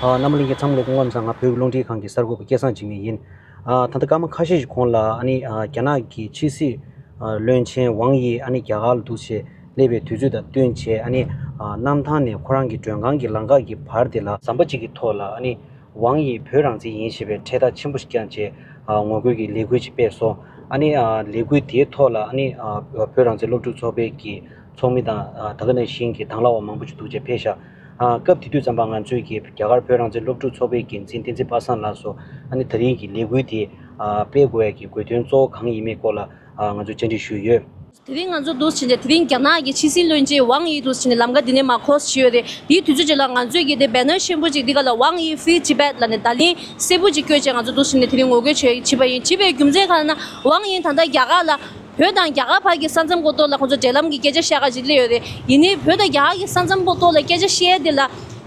རྣམ་གླིང་གི་མཚམས་ལས་སྐུ་ངོ་མཚར་སྔགས་བོད་རླུང་འཕྲིན་ཁང་གི་གསར་འགོད་པ་སྐལ་བཟང་འཇིགས་མེད་ཡིན། ད་ལྟ་སྐར་མ་ཁ་ཤས་ཤིག་གོང་ལ་རྒྱ་ནག་གི་ཕྱི་སྲིད་བློན་ཆེན་ཝང་དབྱི་རྒྱ་གར་ལ་འདུག་ཆེད་སླེབས་པའི་དུས་ཚོད་དང་བསྟུན་བྱས། གནམ་ཐང་ནས་ཁོ་རང་གི་མགྲོན་ཁང་གི་ལམ་ཁ་གི་བར་དེ་ལ། ཟམ་པ་གཅིག་གི་ཐོག་ལ། ཝང་ཡིས་བོད་རང་བཙན་ཡིན་ཞེས་པའི་འཕྲེད་དར་ཆེན་པོ་ཞིག་ཀྱང་བཅས་ངོ་རྒོལ་གྱི་ལས་འགུལ་ཅིག་སྤེལ་སོང། ཨ་ནི། ལས་འགུལ་དེའི་ཐོག་ལ་ཨ་ནི། བོད་རང་བཙན་སློབ་ཕྲུག་ཚོགས་པའི་གི་ཚོགས་མི་དང་ད་ག་ནས་ཤིན་གྱི་དྭང་ལ་བ་མང་པོ་ཅིག་འདུག་ཅེས་ཕེ་ཞཱ། སྐབས་དེ་དུས་ཙམ་པ་ང་ཚོས་གི་རྒྱ་གར་བོད་རང་བཙན་སློབ་ཕྲུག་ཚོགས་པའི་འགན་འཛིན་བསྟན་འཛིན་པ་སངས་ལགས་སུ་ཨ་ནི་ད་རིང་གི་ལས་འགུལ་དེ་སྤེལ་དགོས་བའི་གི་དགོས་དོན་གཙོ་བོ་གང་ཡིན་མིན་སྐོར་ལ་ང་ཚོས་བཅར་འདྲི་ཞུས་ཡོད། དེ་རིང་ང་ཚོ་འདུས་བྱས་འདི་རིང་རྒྱ་ནག་གི་ཕྱི་སྲིད་བློན་ཆེན་ཝང་ཡིས་འདུས་བྱས་འདི་ལམ་ཀ་འདི་ནས་མར་ཁོ་སུ་བྱས་ཡོད་རེད་དེའི་དུས་ཚོད་ཅིག་ལ་ང་ཚོས་གལ་ཏེ Banner ཆེན་པོ་ཅིག་འདི་ག་ལ་ཝང་ཡིས Free Tibet ལ་ནས་བརྡ་ལན་གསལ་པོ་ཅིག་བསྐྱོད་ཆེད་ང་ཚོ་འདུས་བྱས་འདི་དེ་རིང་ངོ་རྒོལ་བྱེད་བྱེད་པ་ཡིན་བྱིས་པའི་རྒྱུ་མཚན་གང་ཡིན་ན་ཝང་ཡིས་ད་ལྟ་རྒྱ་གར་ལ་བོད་དང་རྒྱ་གར་བར་གྱི་ས་མཚམས་གོ་ཏོར་ལ་ཁོང་ཚོ་འབྲེལ་ལམ་གྱི་སྐད་ཆ་བཤད་ག་ཅིག་སླེ་ཡོད་རེད་ཡིན་ནའི་བོད་དང་རྒྱ་གར་གྱི་ས་མཚམས་གོ་ཏོར་ལ་སྐད་ཆ་བཤད་དེ་ལ་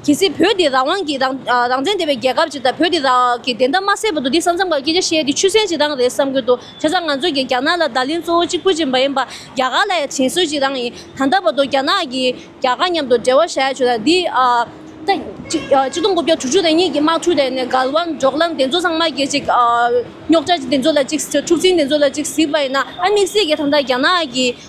གལ་སྲིད་བོད་འདི་རང་དབང་གི་རང་རང་བཙན་ལྡན་པའི་རྒྱལ་ཁབ་ཅིག་དང་བོད་འདི་རང་གི་བདེན་མཐའ་མ་གསལ་བར་དུ་འདི་ས་མཚམས་ག་གི་སྐད་ཆ་བཤད་དེ་ཆུ་སྲན་བྱེད་སྟངས་རེད་བསམ་གྱི་འདུག་ཆ་ཚང་ང་ཚོས་ཀྱིས་རྒྱ་ནག་ལ་བརྡ་ལན་གཙོ་བོ་གཅིག་པུ་བྱིན་པ་ཡིན་པ་རྒྱ་གར་ལ་ཡང་བྱིན་སྲོལ་གཅིག་རང་ཡིན། ད་ལྟ་བར་དུ་རྒྱ་ནག་གིས་རྒྱ་གར་མཉམ་དུ་འབྲེལ་བ་བྱས་ཆོག་ལ་འདི། གཅིག་སྟོང་དགུ་བརྒྱ་དྲུག་ཅུ་དང་གཉིས་ཀྱི་དམག་འཁྲུག་དེ་ནས་གར་དབང་འཇོག་ལམ་དེ་ཚོ་ཚང་མ་གྱིས་གཅིག། རྙོག་དྲ་དེ་ཚོ་ལ་གཅིག་འཁྲུག་འཛིང་དེ་ཚོ་ལ་གཅིག་གཟིགས་པ་ཡིན་ན་ཨ་དམིགས་བསལ་གྱིས་ད་ལྟ་རྒྱ་ནག་གིས།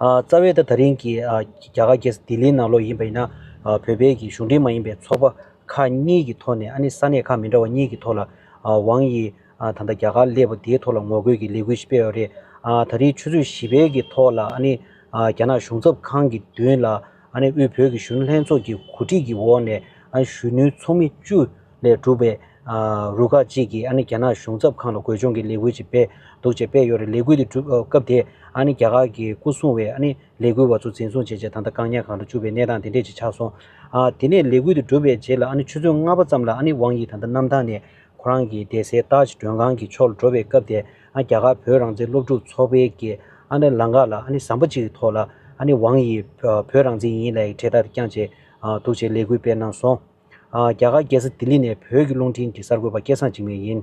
རྩ་བའི་ད་རིང་གི་རྒྱ་གར་གྱི་ལྡི་ལིའི་ནང་ལོགས་ཡིན་པ་ཡིན་ན། བོད་པའི་གི་གཞུང་འབྲེལ་མ་ཡིན་པའི་ཚོགས་པ་ཁག་གཉིས་ཀྱི་ཐོག་ནས་ཨ་ནི་ས་གནས་ཁག་མི་འདྲ་བ་གཉིས་ཀྱི་ཐོག་ལ། ཝང་དབྱི་ད་ལྟ་རྒྱ་གར་སླེབས་པ་དེའི་ཐོག་ལ་ངོ་རྒོལ་གྱི་ལས་འགུལ་ཞིག་སྤེལ་བ་རེད། ད་རིང་ཆུ་ཚོད་བཞི་པའི་གི་ཐོག་ལ་ཨ་ནི་རྒྱ་ནག་གཞུང་ཚབ་ཁང་གི་མདུན་ལ་དབུས་བོད་ཀྱི་གཞོན་ནུ་ལྷན་ཚོགས་ཀྱི་གོ་སྒྲིག་གི་འོག་ནས་གཞོན་ནུའི་ཚོགས་མི་བཅུ་ལས་གྲུབ་པའི་རུ་ཁག་ཅིག་གིས་རྒྱ་ནག་གཞུང་ཚབ་ཁང་ལ་བགོས་སྦྱོང་གི་ལས་འགུལ་ཅིག་སྤེལ་འདུག་ཅེས་སྤེལ་ཡོད་རེད་ལས་འགུལ་དེ་གྲུབ་སྐབས་དེ་རྒྱ་གར་གྱི་སྐུ་སྲུང་བས་ལས་འགུལ་བ་ཚོ་འཛིན་བཟུང་བྱས་རྗེས་ད་ལྟ་བཀག་ཉར་ཁང་དུ་བཅུག་པའི་གནས་སྟངས་དེ་འདྲས་ཅིག་ཆགས་སོང། དེ་ནས་ལས་འགུལ་དེ་གྲུབ་པའི་རྗེས་ལ་ཆུ་ཚོད་ལྔ་པ་ཙམ་ལ་ཝང་དབྱི་ད་ལྟ་གནམ་ཐང་ནས་ཁོ་རང་གི་བསྡད་སའི་ཏཱའི་ཇི་མགྲོན་ཁང་གི་ཕྱོགས་ལ་འགྲོ་བའི་སྐབས་དེ་རྒྱ་གར་བོད་རང་བཙན་སློབ་ཕྲུག་ཚོགས་པའི་གི་ཨ་ནི་ལངས་ཀ་ལ་ཨ་ནི་ཟམ་པ་གཅིག་ཐོག་ལ་ཨ་ནི་ཝང་ཡིས་བོད་རང་བཙན་ཡིན་ལའི་གྲས་དག་དེ་བསྐྱངས་བྱས་འདུག་ཅེས་ལས་འགུལ་སྤེལ་གནང་སོང། རྒྱ་གར་རྒྱལ་ས་ལྡི་ལི་ནས་བོད་ཀྱི་རླུང་འཕྲིན་གྱི་གསར་འགོད་པ་སྐལ་བཟང་འཇིགས་མེད་ཡིན།